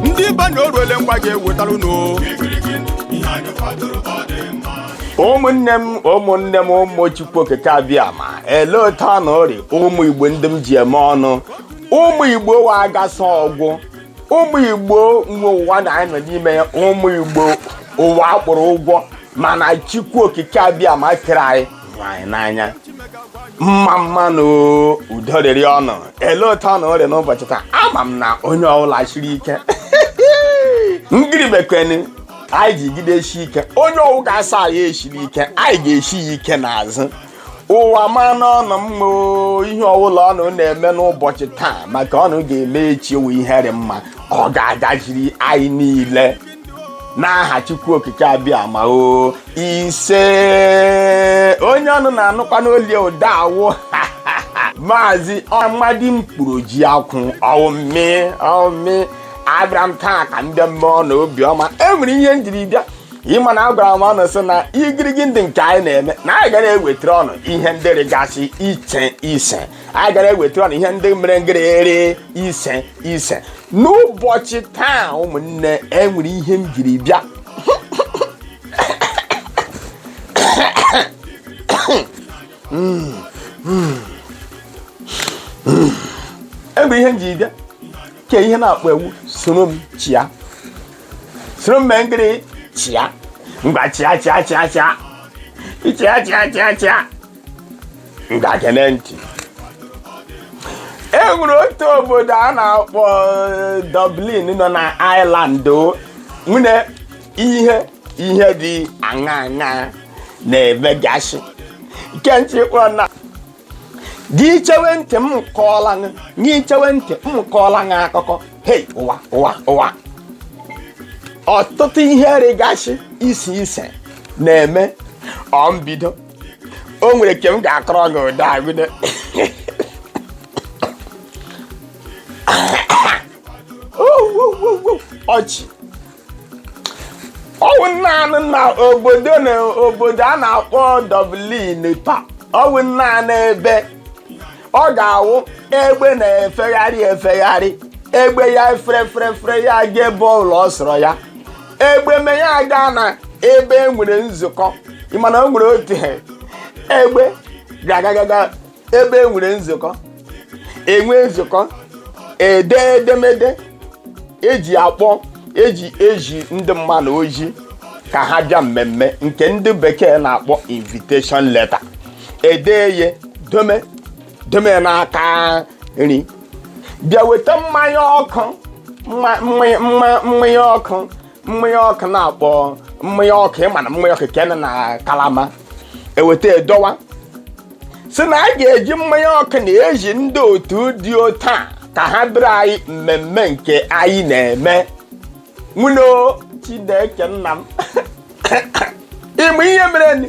ndị ibe na oruele ngwa ga-ewetara unu ụmụnne m ụmụnne m ụmụ chukwu okike abịama ele otu unu rị ụmụ igbo ndị m ji eme ọnụ ụmụ igbo wa agasa ọgwụ ụmụ igbo nwe ụwa na anyị nọ n'ime ya ụmụ igbo ụwa kpọrọ ụgwọ mana chukwu okike abịama kere anyị hụ anyị n'anya mma mma na udo rịrị unu ele otu unu rị n'ụbọchị taa ama m na onye ọbụla shiri ike ngịrị mekweni anyị jigideshie ike onye ọwụ ga-asị anyị eshiri ike anyị ga-eshi ya ike n'azụ ụwa ma n'ọnụ mmụọ, ihe ọbụla unu na-eme n'ụbọchị taa ma ke unu ga-eme echi ọwụ ihe rị mma ọ ga-agaziri anyị niile n'aha chukwu okike abịama o ise onye unu na-anụkwanụ olu ụda awụ maazị amadi mkpụrụ ji akwụ ọwụ mụ ọwụ mụ abịara m taa ka m bịa mee unu obiọma e nwere ihe m jiri bịa ị ma na agwara m unu sị na igirigi ndị nke anyị na-eme na anyị ga na-ewetara unu ihe ndị rịgasị iche iche anyị gara eweta ọnụ ihe ndị mere ngịrịrị ise ise n'ụbọchị taa ụmụnne enwere ihe m jiri bịa enwere ihe m jiri bịa ke ihe na-akpọ ewu soro m chịa soro m mee ngịrị chịa ngwa chịa chịa chịa chịa ịchịa chịa chịa chịa ngwa geenụ ntị e nwere otu obodo a na-akpọ eh, Dublin nọ na Ireland o nwere ihe ihe dị aṅa aṅa na-emegasị nke ntị kpọ na gị chewe ntị m kọọla gị gị chewe ntị m kọọla gị akụkọ hei ụwa ụwa ụwa ọtụtụ ihe rịgasị iche iche na-eme ọ mbido o nwere nke m ga-akọrọ gị ụda agụde ọchị ọwụ naanị na obodo na obodo a na-akpọ Dublin taa ọwụ naanị ebe ọ ga-awụ egbe na-efegharị efegharị egbe ya fere fere fere ya ga ebe ọbụla ọ sọrọ ya egbe mee ya aga na ebe e nwere nzukọ ị ma na o nwere otu egbe ga-agagaga ebe e nwere nzukọ e nwee nzukọ edee edemede eji akpọ eji ezi ndị mmadụ ozi ka ha bịa mmemme nke ndị bekee na-akpọ invitation letter edee ya dome deme ya n'aka nri bịa weta mmanya ọkụ mma- mmanya mma- mmanya ọkụ mmanya ọkụ na-akpọ mmanya ọkụ ị ma na mmanya ọkụ kene na kalama eweta edowa sị na a ga-eji mmanya ọkụ na eji ndị otu dị otu a ka ha bịara anyị mmemme nke anyị na-eme nwunye o, chineke nna m ị ma ihe mere ni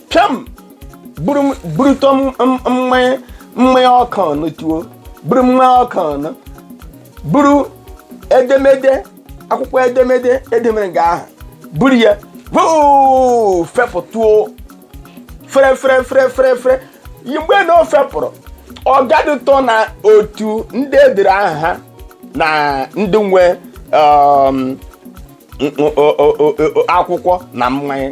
pịam buru m- burutọ m- m- mmanya mmanya ọkụ ahụ tuo buru mmanya ọkụ ahụ buru edemede akwụkwọ edemede edemede nga ahụ buru ya hoo fepụtụo fere fere fere fere fere yi mgbe na o fepụrụ ọ gadụtọ na otu ndị e dere aha ha na ndị nwe um, n- o- o- o- o- akwụkwọ na mmanya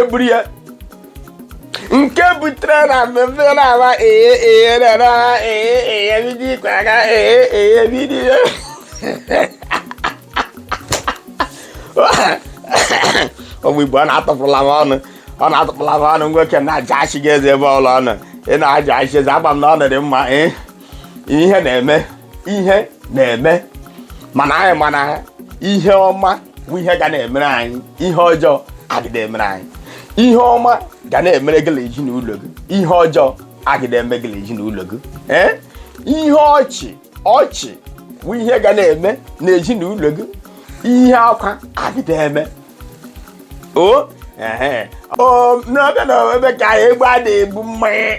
eburu ya nke butere na mmemme na-ama ee ee na-ama ee ee bido ikwe aka ee ee bido ya ụmụ igbo ọ na-atụpụla m ọnụ ọ na-atụpụla m ọnụ nwoke na-aja achị gị eze ebe ọla ọnụ ị na-aja achị eze agba m na ọ dị mma ee ihe na-eme ihe na-eme mana anyị ma na ihe ọma bụ ihe ga na-emere anyị ihe ọjọọ agịda emere anyị ihe ọma ga na-emere gị na ezinụlọ gị ihe ọjọọ agịda eme gị na ezinụlọ gị ee ihe ọchị ọchị bụ ihe ga na-eme na ezinụlọ gị ihe akwa agịda eme o ee o n'ọbịa na ebe ka egbe a na-ebu mmanya